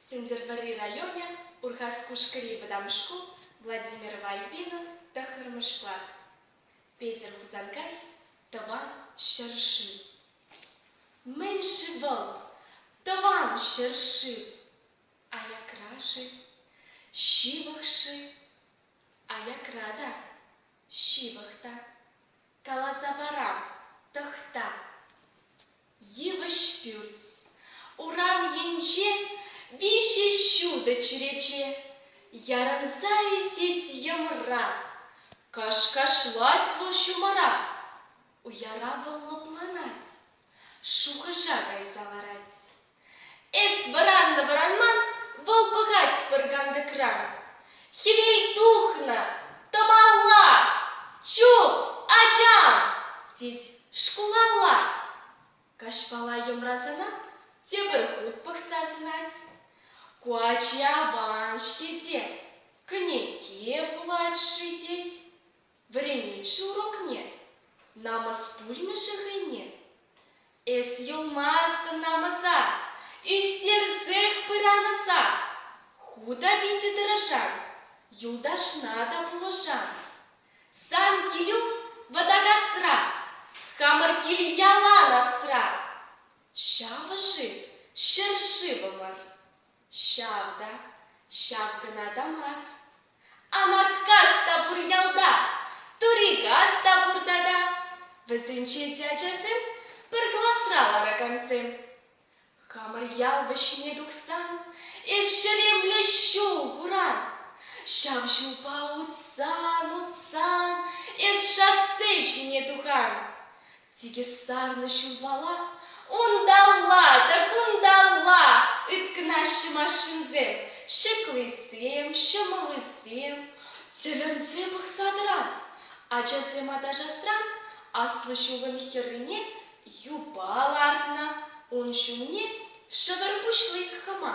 Сӗнтӗрвӑрри районӗ, Урхаскушкӑри вӑтам шкул, Владимирова Альбина, тӑххӑрмӗш класс. Петӗр Хусанкай, тӑван ҫӗр-шыв. Мӗн-ши вӑл, тӑван ҫӗр-ши? Аякра-ши, ҫывӑх-ши? Аякра та, ҫывӑх та. Каласа парам, тӑхта. Йывӑҫ пӳрт. Урам енче виҫӗ ҫутӑ чӳрече. Ярӑнса ӳсет йӑмра. Кӑш-кашлать вӑл ҫумӑра. Уяра вӑл лӑпланать, шухӑша кайса ларать. Эс вӑраннӑ-вӑранман вӑл пӑхать пӗр кантӑкран. Хӗвел тухнӑ, тӑмалла, чуп, ачам, тет шкулалла. Каҫпала йӑмрасанах тепӗр хут пӑхса сӑнать. Ку ачи аван-ҫке те, кӗнеке вулать-ши тет. Вӗреннӗччӗ урокне, намӑс пулмӗ-ши хӑйне? Эс юлмастӑн намӑса, ӳстерсех пыран ӑса. Ху та питӗ тӑрӑшан, юлташна та пулӑшан. Сан килӳ Вӑтакасра, хамӑр кил ялан асра. Ҫавӑ-ши, ҫӗр ҫывӑмӑр? Ҫав та, ҫав кӑна та мар. Анаткас та пур ялта, Турикас та пурта та. Вӗсенче те ачасем, пӗр класра ларакансем. Хамӑр ял вӗҫне тухсан, эс ҫеремле ҫул куран. Ҫав ҫулпа утсан, утсан, эс шоссе ҫине тухан. Тикӗс сарнӑ ҫулпала унталла та кунталла ыткӑнаҫҫӗ машинсем, ҫӗклисем, ҫӑмӑллисем. Тӗлӗнсе пӑхса тӑран, ачасем аташасран аслӑ ҫулӑн хӗррине юпа лартнӑ, ун ҫумне шӗвӗр пуҫлик хӑма.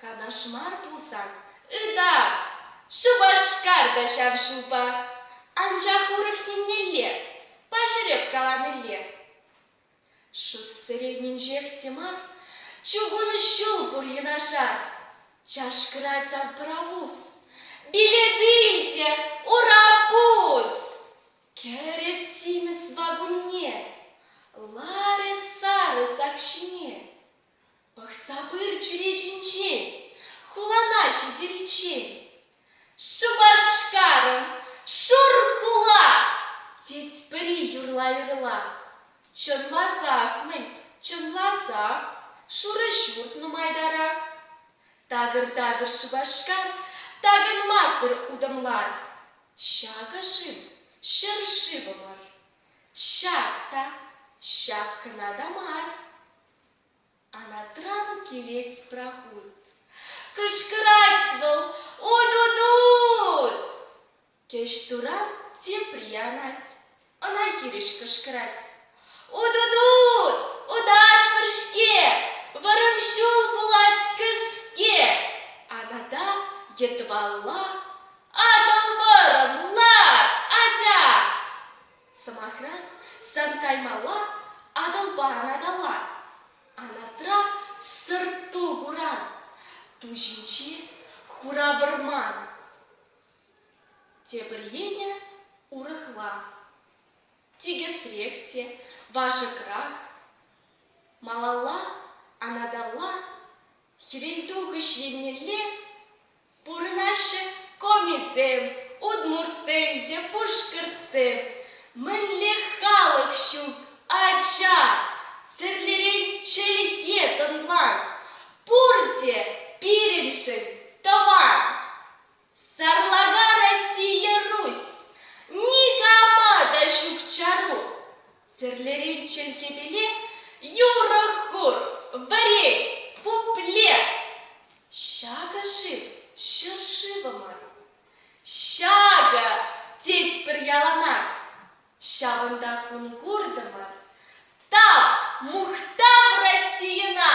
Канаш мар пулсан, ыта! Шупашкар та ҫав ҫулпа. Анчах урӑх еннелле паҫӑреп каланилле. Шоссере нимҫех те мар, чухӑн ҫул пур юнашар. Чашкӑрать абравус. Билеты те урапус! Кӗрӗ симӗс вакунне, ларӗ сарӑ сак ҫине. Пӑхса пыр чӳречинчен, хулана ҫитериччен. Шупашкарӑн шур хула, тет пӗри юрла-юрла. Чӑнласах мӗн, чӑнласах, шурӑ ҫурт нумайтарах. Такӑр-такӑр Шупашкар, такӑнмасӑр утӑмлар. Ҫакӑ-ши, ҫӗр-шывӑмӑр. Ҫак та, ҫак кӑна та мар. Анатран килет проход. Кӑшкӑрать вӑл «У-ду-ду-ут!» Кӗҫ турат тепри анать. Ӑна хирӗҫ кӑшкӑрать. «У-ду-ду-ут! Утатпӑр-ҫке! Вӑрӑм ҫул пулать кӗске!» Анада йытвалла «Атӑл вӑрӑм, лар, атя!» Сӑмахран, сан каймалла Атӑлпаран Атала, анатра сӑрт-ту куран, ту ҫинчи хура вӑрман. Тепӗр енӗ урӑхла. Тикӗсрех те, вашӑкрах. Малалла, анаталла, хӗвелтухӑҫ еннелле Пурӑнаҫҫӗ комисем, удмуртсем те пушкӑртсем. Мӗнле халӑх ҫук, ача! Тӗрлӗрен чӗлхе тӑнлан. Пурте пирӗншӗн тӑван. Сарлака Россия Русь! Никама та ҫук чару! Тӗрлӗрен чӗлхепеле юрӑх кур, вӗрен, пупле. Ҫакӑ шыв, ҫӗршывӑмӑр. Ҫакӑ, тетпӗр яланах. Ҫавӑнта кун куртӑмӑр. Тав, мухтав Российӑна!